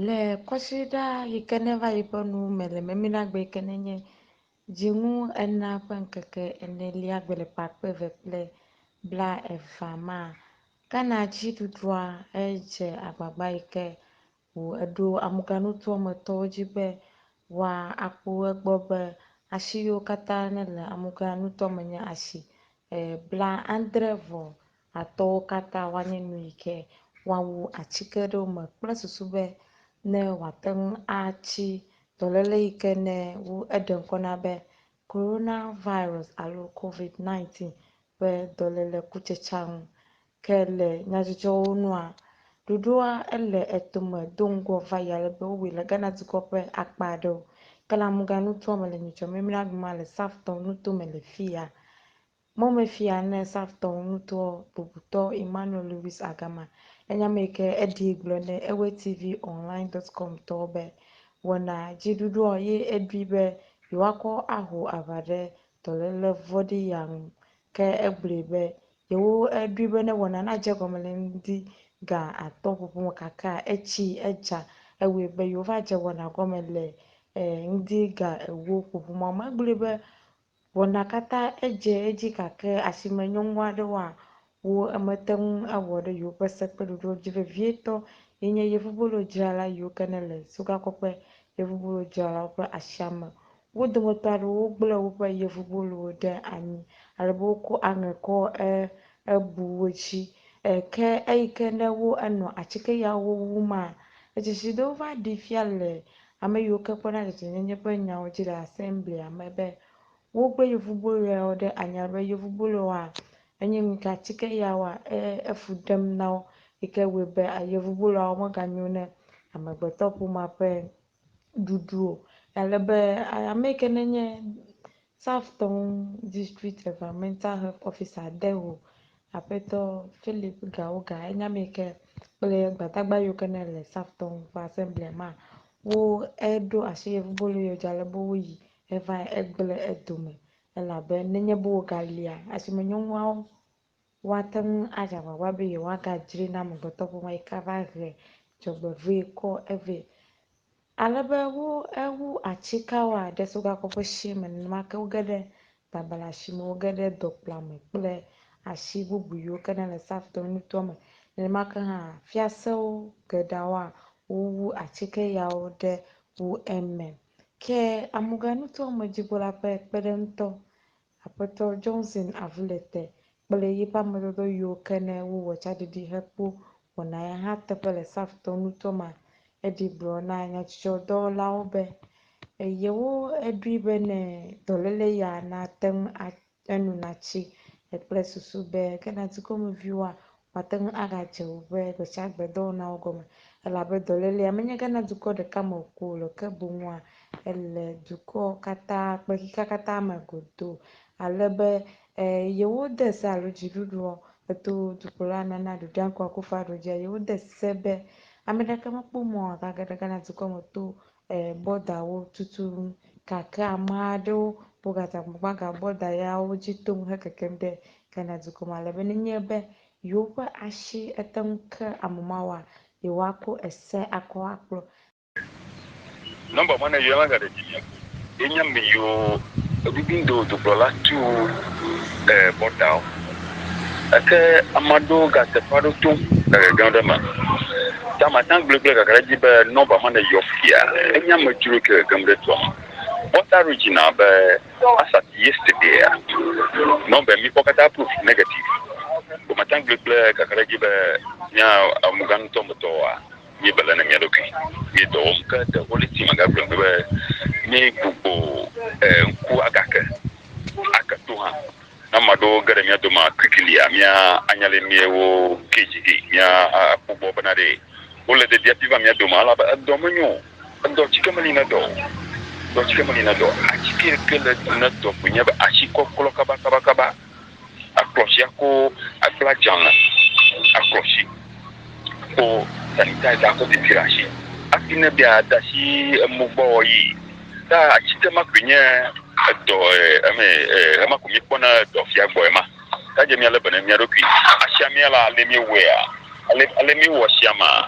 Le kɔsiɖa yi ke neva yi ƒe nu me le mɛminagbe yi ke ne nye Dziŋu enea ƒe ŋkeke enelia gbe ƒe akpe eve kple blaevea ma, Ghana dziɖuɖua he dze agbagba yi ke ŋu eɖo amugãnutoa me tɔwo dzi be woa akpo egbɔ be asi yiwo katã ne le amugãnutoa me nye asi e blaadre vɔ Atɔwo katã woanye nu yi ke woawu atsike ɖe wo me kple susu be ne wòate ŋu atsi dɔléle yi ke ne wu eɖe ŋkɔ na be Coronavirus alo Covid-19 ƒe dɔléle kutsetsea ŋu. Ke le nyadzɔdzɔwo nua, ɖoɖoa ele etome do ŋgɔ va yi ale be wowɔe le Ghana dukɔ ƒe akpa aɖewo. Ke le Amuga nutoa me le Nyitsɔ Mimira Aguma le Safton nuto me le fiya, Mɔmefia ne Savtɔwo ŋutɔ bubutɔ Emmanuel Louis Agama le nya me ke eɖii gblɔ ne EweTVOnline dot com tɔwo be, Wɔna dziɖuɖuɔ ye eɖui be yewoakɔ aho aʋa ɖe dɔléle vɔ̃ɖi ya ŋu. Ke egblɔe be, Yewo eɖui be ne wɔna nadze egɔme le ŋdi ga atɔ̃ ƒoƒo me kakea etsi edza ewɔe be yewova dze wɔna gɔme le e ŋdi ga ewo ƒoƒo ma me. Egblɔe be, Wɔna katã edze edzi gake asime nyɔnu aɖe wɔa wo emete ŋu awɔ ɖe yewoƒe se kple ɖoɖowo dzi vevietɔ ye nye yevubolodzrala yiwo ke ne le sukakɔƒe yevubolodzralawo ƒe asia me. Wo dometɔ aɖewo gblẽ woƒe yevubolowo ɖe anyi ale be wokɔ aŋe kɔ e ebu wo dzi e ke eyi ke ne wo enɔ atike yawo wum a, edzesi ɖe wova ɖee fia le Ame yiwo ke kpɔna dzedzenyenye ƒe nyawo dzi le Asemblia me be wogbe yevuboloawo ɖe anya be yevuboloa enye nu ka ti ke Yehowa e efu ɖem na wo yi ke wɔe be yevuboloawo meganyo ne amegbetɔƒomea ƒe ɖuɖu o. Ale be ame yi ke nenye Safetown District Environmental Health Officer Deho, Aƒetɔ Philip Gawoga, enye ame ke kple gbadagba yiwo ke ne le Safetown ƒe Assemblea ma wo eɖo asi yevubolo yewo dzi ale be woyi hevae egble edome elabe nenye be wogalia asimenyɔnuawo Woate ŋu adze agbagba be yewoagadzroe na amegbetɔƒomea yi ke ava he dzɔgbevɔ̃e kɔ vɛ. Ale be wo ewu atsikawoa, ɖe so gakɔ ƒe shie me, nenema ke woge ɖe babla shi me, woge ɖe dɔkpla me kple ashi bubu yiwo ke nele Safton nutoa me. Nenema ke hã fiasewo geɖeawoa, wowu atsike yawo ɖe wo eme. Ke amuga nutoa me dzigbɔla ƒe kpeɖeŋutɔ Aƒetɔ Johnson avu le te kple yiƒe amedɔdɔ yiwo ke ne wowɔ tsaɖiɖi hekpo wɔna ya hã teƒe le Safetɔ nutoa me. Eɖi gblɔ na nyadzɔdzɔdɔwɔlawo be yewo eɖoe be ne dɔléle ya nate ŋu a enu natsi kple susu be ke na dukɔmeviwoa Mate ŋu agadze wò ƒe gbesiagbedɔwɔnawo gɔme, elabe dɔlélea menyegana dukɔ ɖeka me ko o loo, ke boŋua, ele dukɔ katã, kpexexea katã me godoo, ale be, ẽ, yewode se alo dziɖuɖua eto dukplɔla nana Dodoeankɔ Akuffo-Addo dzia, yewode se be ame ɖeke mekpɔ mɔ agage ɖe Ghana dukɔ me to e bɔda wo tututu gake ame aɖewo bɔgata gbaga bɔda yawo dzi tom hekekem ɖe Ghana dukɔ ma ale be nenye be yewoƒe asi ete ŋu ke ame mawoa, yewoako ese akɔ akplɔ. Nɔmba ma ne yɔe ma gade dzi mia ko. Ye nya me yio edidi ŋdo dukplɔla tu e bɔta o eke ama ɖo ga teƒa ɖo to ege gã ɖe me ta ma ta gble gble ga gre dzi be nɔ ba ma ne yio fia e nya me dro ke gem ɖe to me bɔta ɖo dzi na be asa ti yes te be ya nɔ be mi kɔ kata proof negative o ma ta gble gble ga gre dzi be nya a mu ga ŋutɔ ŋutɔ wa. míebela na mía ɖokui, míe dɔ wɔm, ke de Holy Spirit magagblɔe mi be mí gbugbɔ ŋku agake ake to hã. Na maɖewo ge ɖe mía dome kwikilia, mía anya le mie wo keji gi, mía akpɔgbɔ bena ɖe wole de diapi va mía dome, ala be edɔ me nyo, edɔ tsike meli ne dɔ, edɔ tsike meli ne dɔ, atsike ke le ne dɔ ko nye be atsi kɔklɔ kaba kaba kaba. Akplɔ sia ko akpla dzalẽ akplɔ si ko sanitizer ko pipi ɖe asi hafi ne be yeade asi emo gbɔ yi ta atike ma koe nye edɔ e eme e ema ko míekpɔna edɔ fia gbɔ ema. Ta dze mía le be ne mía ɖokui. Asia mía la ale míewɔea ale ale míewɔ asia ma.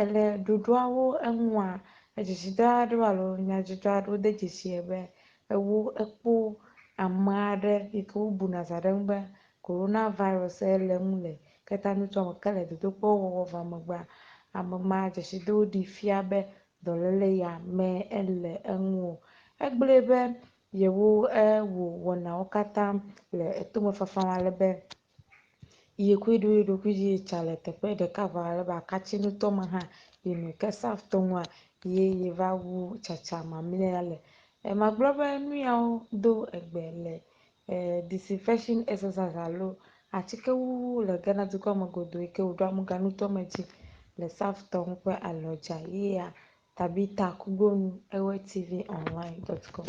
Èle ɖoɖoawo eŋua? Edzedzidɔ aɖewo alo nyadzɔdzɔ aɖewo de dzesie be ewo ekpɔ ame aɖe yi ke wobuna zã ɖe eŋu be Coronavirus ye le eŋu le ketanutsɔ me. Ke le dodokpɔwo wɔwɔ vaa megbea, ame ma dzesidowo ɖee fia be dɔléle ya mee le eŋu o. Egblɔe be yewo ewɔ wɔnawo katã le etomefafa ale be Yi koe ɖo eɖokui dzi yi tsa le teƒe ɖeka vɔ alebe akatsi ŋutɔ me hã yi nu ke saf to ŋua ye yi va wu tsatsa mamlɛa le. E magblɔ be nuyawo do egbe le e disinfection exercise alo atsike wuwu le Ghana dukɔ me godo yi ke woɖo amuga ŋutɔ me dzi le saf tɔ ŋu ƒe alɔdza ye ya Tabitha Kugbonu ewɔe TV online dot com.